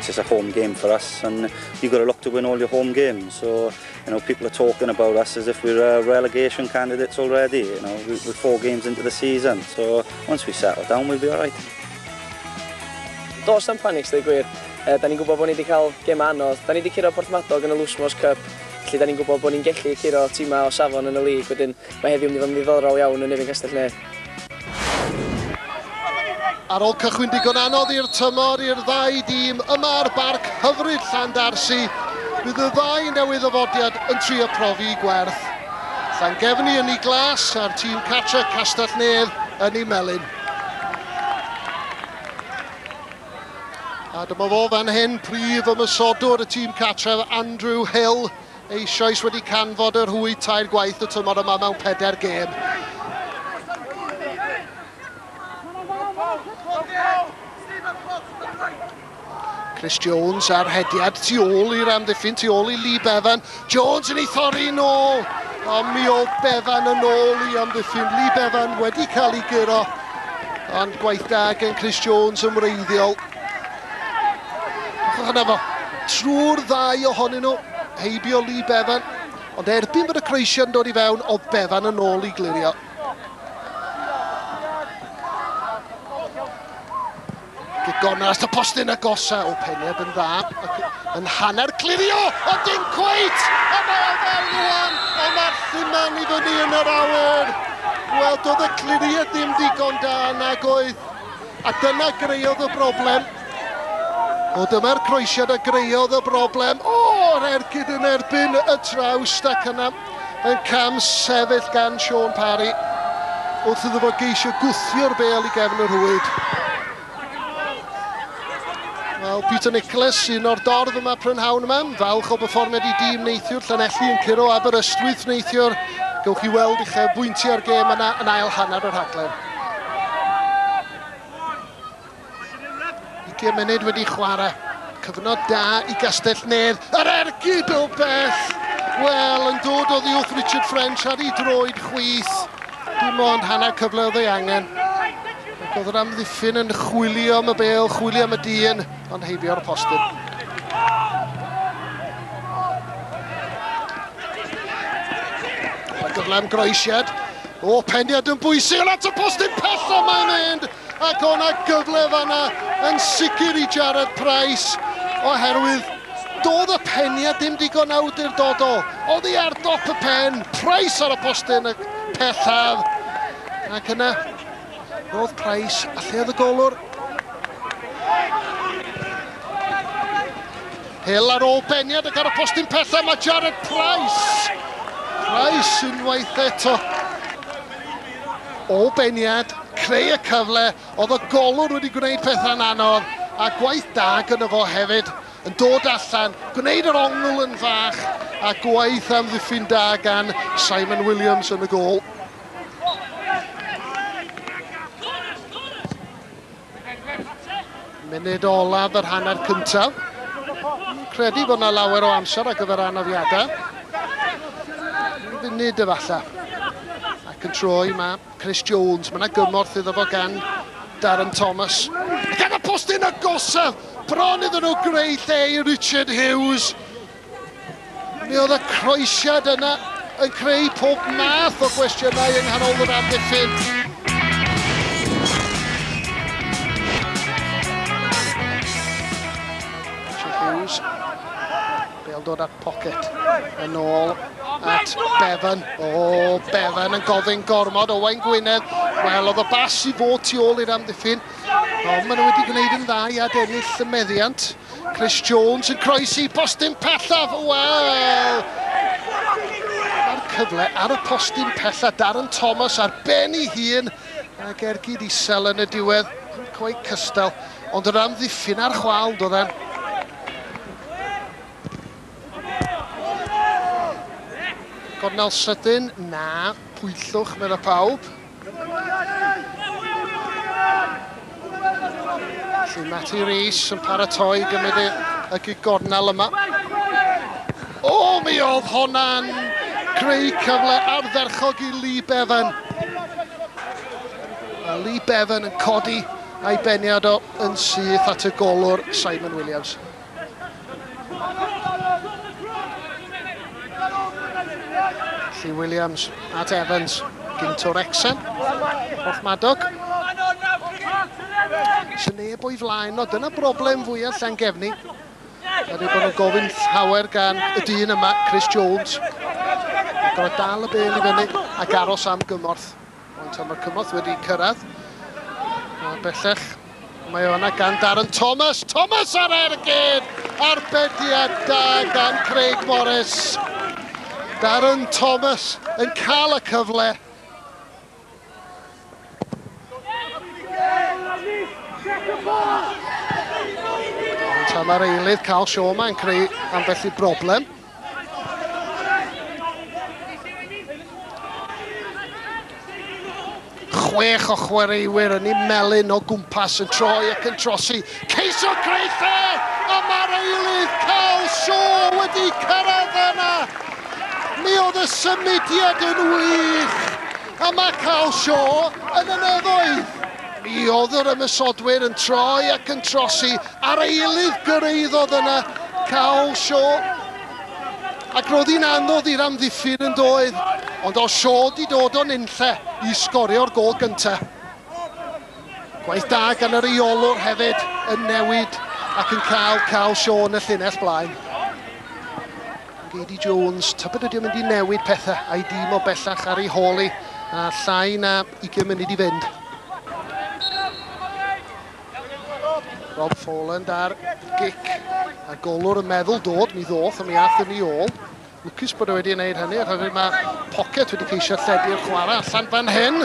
It's just a home game for us, and you've got to look to win all your home games. So, you know, people are talking about us as if we're uh, relegation candidates already. You know, we're four games into the season. So, once we settle down, we'll be all right. Dos am panic, dweud gwir. E, da ni'n gwybod bod ni wedi cael gem anodd. Da ni wedi curo Porthmadog yn y Lwsmos Cup. Felly, da ni'n gwybod bod ni'n gellu curo tîmau o safon yn y lig. Wedyn, mae heddiw yn mynd i fod yn ddiddorol iawn yn Nefyn Castellnedd. Ar ôl cychwyn digon anodd i'r tymor i'r ddau dîm yma ar barc hyfryd Llandarsi, bydd y ddau newydd ddafodiad yn trio profi gwerth. Llangefni yn ei glas a'r tîm cartre Castell-nedd yn ei melyn. A dyma fo fan hyn, prif ymysodwr y tîm cartref Andrew Hill. Eisoes wedi canfod y rhwyd tair gwaith y tymor yma mewn pedair gêm. Chris Jones ar hediad tu ôl i'r amddiffyn, tu ôl i Lee Bevan. Jones yn ei thorri yn ôl. A mi o Bevan yn ôl i amddiffyn. Lee Bevan wedi cael ei guro. Ond gwaith da gen Chris Jones yn wreiddiol. Ochr yna fo, trwy'r ddau ohonyn nhw, heibio Lee Bevan, ond erbyn bod y croesiad yn dod i fewn, oedd Bevan yn ôl i glirio. Gigona as y postyn a gosa o peneb yn dda, yn hanner clirio, a dim cweit! A mae o fewn rwan, a mae'r lluman i fyny yn yr awyr! Wel, doedd y cliriad ddim digon da nag oedd A dyna greodd y broblem. O, dyma'r croesiad a greodd y broblem. O, yr ergyd yn erbyn y trawst ac yna yn cam sefyll gan Sean Parry wrth iddo fo geisio gwthio'r bel i gefn yr hwyd. Wel, Peter Nicholas, un o'r dorf yma prynhawn yma, falch o berfformiad i dîm neithiwr Llanelli yn curo Aberystwyth neithiwr. Gewch chi weld i chefbwyntio ar gêm yna yn ail hanner yr rhaglen. Ugiau munud wedi chwarae. Cyfnod da i Gastell-nedd. Yr ergyd o bell! Wel, yn dod o ddiwch Richard French ar ei droed chwith. Dim ond hanner cyfle oedd ei angen. Ac oedd yr amddiffyn yn chwilio am y bel, chwilio am y dyn, ond heibio ar y postyn. Mae gyfle am groesiad. O, pendiad yn bwysig yn at y post yn pellach mae'n mynd ac o'na gyfle fanna yn sicr i Jarrod Price oherwydd doedd y pendiad ddim digon awdurdodol. Oddi ar dop y pen, Price ar y postyn y pellaf ac yna roedd Price a lleodd y golwr Hill ar ôl beniad ac ar y postyn pellaf mae Jared Price. Price unwaith eto. Ôl beniad, creu y cyfle, oedd y golwr wedi gwneud pethau'n anodd a gwaith da gyda fo hefyd. Yn dod allan, gwneud yr ongl yn fach a gwaith amddiffyn da gan Simon Williams yn y gôl. Munud olaf yr hanner cyntaf. Credu bod yna lawer o amser ar gyfer anafiadau. Funud efallai. Ac yn troi mae Chris Jones. Mae yna gymorth iddo fo gan Darren Thomas. Ac ar y postyn agosaf, bron iddyn nhw greu lle i Richard Hughes. Mi oedd y croesiad yna yn creu pob math o gwestiynau yng nghanol yr amddiffyn. Bel dod at Pocket. Yn ôl at Bevan. O, oh, Bevan yn gofyn gormod. Owain Gwynedd. Wel, oedd y bas i fod tu ôl i'r amddiffyn. Ond maen nhw wedi gwneud yn dda i adennill y meddiant. Chris Jones yn croesi postyn pellaf, wel! Mae'r cyfle ar y postyn pellaf, Darren Thomas ar ben ei hun, a gergyd isel yn y diwedd, nid cweit cystal, ond yn amddiffyn ar chwâl doedd e'n. Gornel sydyn, na, pwyllwch, meddai pawb. Siw Matty Rees yn paratoi gymryd y, y gigornel yma. O, mi oedd honna'n creu cyfle ardderchog i Lee Bevan. A Lee Bevan yn codi a'i beniad o yn syth at y golwr Simon Williams. Allu Williams at Evans, gynt o Wrexham, off Madog. Sy'n neb o'i flaen o, dyna broblem fwyaf Llangefni. Yr yw bod nhw'n gofyn llawer gan y dyn yma, Chris Jones. Gorau dal y bel i fyny ac aros am gymorth. Rwan tan mae'r cymorth wedi cyrraedd. A bellach mae o yna gan Darren Thomas. Thomas ar ergyd! Arbediad da gan Craig Morris. Darren Thomas yn cael y cyfle. Tamer Eilydd, Carl Shaw, mae'n creu ambell i broblem. Chwech o chwaraewyr yn ei melyn o gwmpas yn troi ac yn trosi. Ceisio greu lle, a mae'r eilydd Carl Shaw wedi cyrraedd yna. Mi oedd y symudiad yn wych, a mae Carl Shaw yn y nefoedd. Mi oedd yr ymysodwyr yn troi ac yn trosi, Ar ei eilydd gyrhaeddodd yna Carl Shaw ac roedd hi'n anodd i'r amddiffyn yn doedd, ond oedd Shaw wedi dod o nunlle i sgorio'r gol gyntaf. Gwaith da gan y rheolwr hefyd yn newid ac yn cael Carl Shaw yn y llinell blaen. Gady Jones, tybed ydy o'n mynd i newid pethau a'i dîm o bellach ar ei hôl hi, a llai na 20 munud i fynd. Rob Foland ar gic a golwr yn meddwl dod, mi ddoth a mi ath yn ei ôl. Lwcus bod e wedi gwneud hynny, a hefyd mae Pocket wedi ceisio lledu'r chwarae allan fan hyn.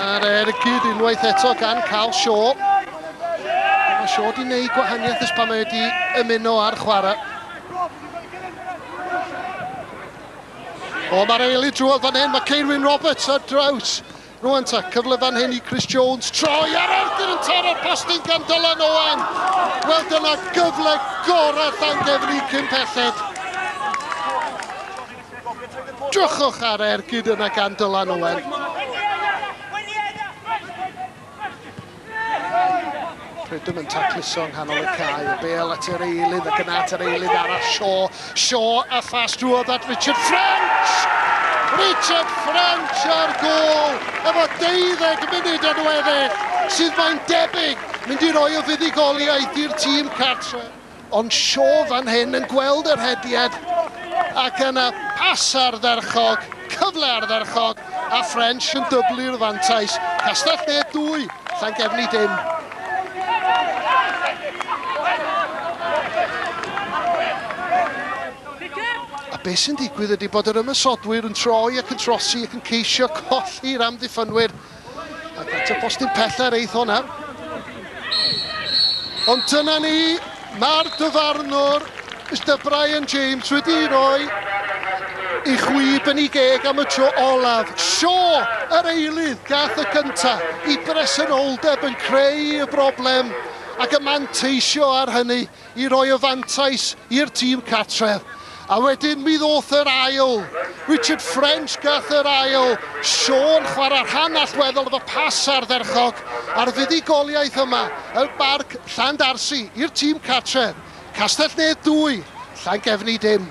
A'r ergyd unwaith eto gan Carl Shaw. Mae Shaw wedi gwneud gwahaniaeth ys pan mae wedi ymuno â'r chwarae. O, mae'r eili drwodd fan hyn, mae Ceirwyn Roberts ar draws Rwan ta, cyfle fan hyn i Chris Jones troi ar Arthur yn taro'r postyn gan Dylan Owen. Wel dyna gyfle gorau Llangefni cyn pelled. Drychwch ar ergyd yna gan Dylan Owen. Prydwm yn tacluso yng nghanol y cae, y bêl at yr eilydd ac yna at yr eilydd arall, Shaw, Shaw a fast drwodd at Richard French! Richard French ar gol efo 12 munud yn weddill, sydd mae'n debyg mynd i roi y fuddugoliaeth i'r tîm cartre. Ond Shaw fan hyn yn gweld yr hediad ac yna pas ardderchog, cyfle ardderchog a French yn dyblu'r fantais. Castell-nedd 2, Llangefni dim. A beth sy'n digwydd ydy bod yr ymosodwyr yn troi ac yn trosi ac yn ceisio colli'r amddiffynwyr Ac at y postyn pellter eith hwnna. Ond dyna ni, mae'r dyfarnwr, Mr Brian James, wedi rhoi i chwi yn ei geg am y tro olaf. Sio yr eilydd gath y cynta i bresenoldeb yn creu y broblem ac y manteisio ar hynny. i roi y fantais i'r tîm cartref, a wedyn mi ddoth yr ail, Richard French gath yr ail, Sean chwarae rhan allweddol efo pas ardderchog ar fuddugoliaeth yma yn Barc Llandarsi i'r tîm cartref, Castell-nedd 2, Llangefni dim.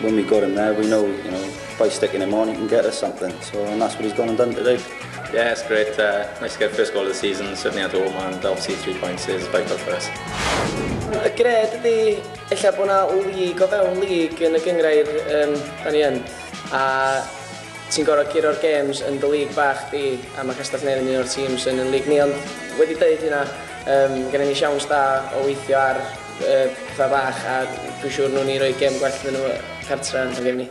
When we got him there, we know, you know, by sticking him on, he can get us something. So, and that's what he's gone and done today. Yeah, it's great. Uh, nice to get first goal of the season, certainly at home, and obviously three points is vital for us. Y gred ydy, efallai bod yna lig o fewn lig yn y gyngrair um, da ni yn. A ti'n gorau guro'r games yn dy lig bach di, a mae Castell Nedd yn un o'r teams yn yn lig ni, ond wedi dweud hynna, um, gen i ni siawns da o weithio ar Yy, pla bach a dwi siŵr newn ni roi gem gwell iddyn nhw cartra yn Llangefni.